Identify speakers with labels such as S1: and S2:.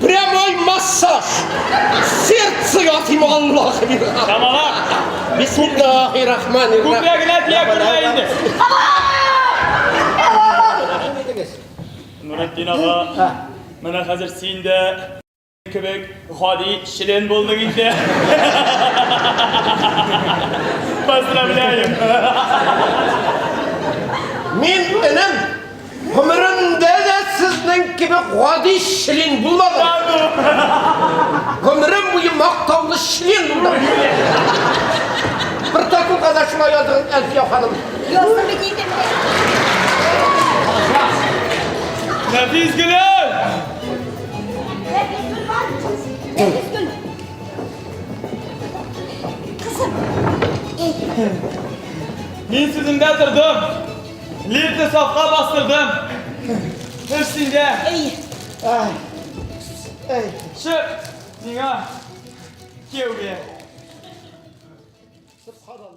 S1: Прямой массаж! Сердце ятим Аллах! Тамала!
S2: Бисмиллахи рахмани
S1: рахим. Күкрәгенә тия күрмә
S2: инде. Нуретдин ага, менә хәзер син дә кебек гади член булдың инде. Поздравляем!
S1: Мин энем Гомеремдә дә сезнең кебек гади член булмадым. Гомерем буе мактаулы член булдым. Протоколга да шулай языгыз, Әлфия ханым. Яздым бит инде.
S2: Нәфис гөлем! Нәфис гөл бар.
S3: Нәфис гөл. Кызым.
S2: Мин сүземдә тордым. Лифтны сафка бастырдым. Эш синдә. Әй.
S3: Әй.
S1: Әй. Чык.
S2: Миңа. Кияүгә. Субханалла.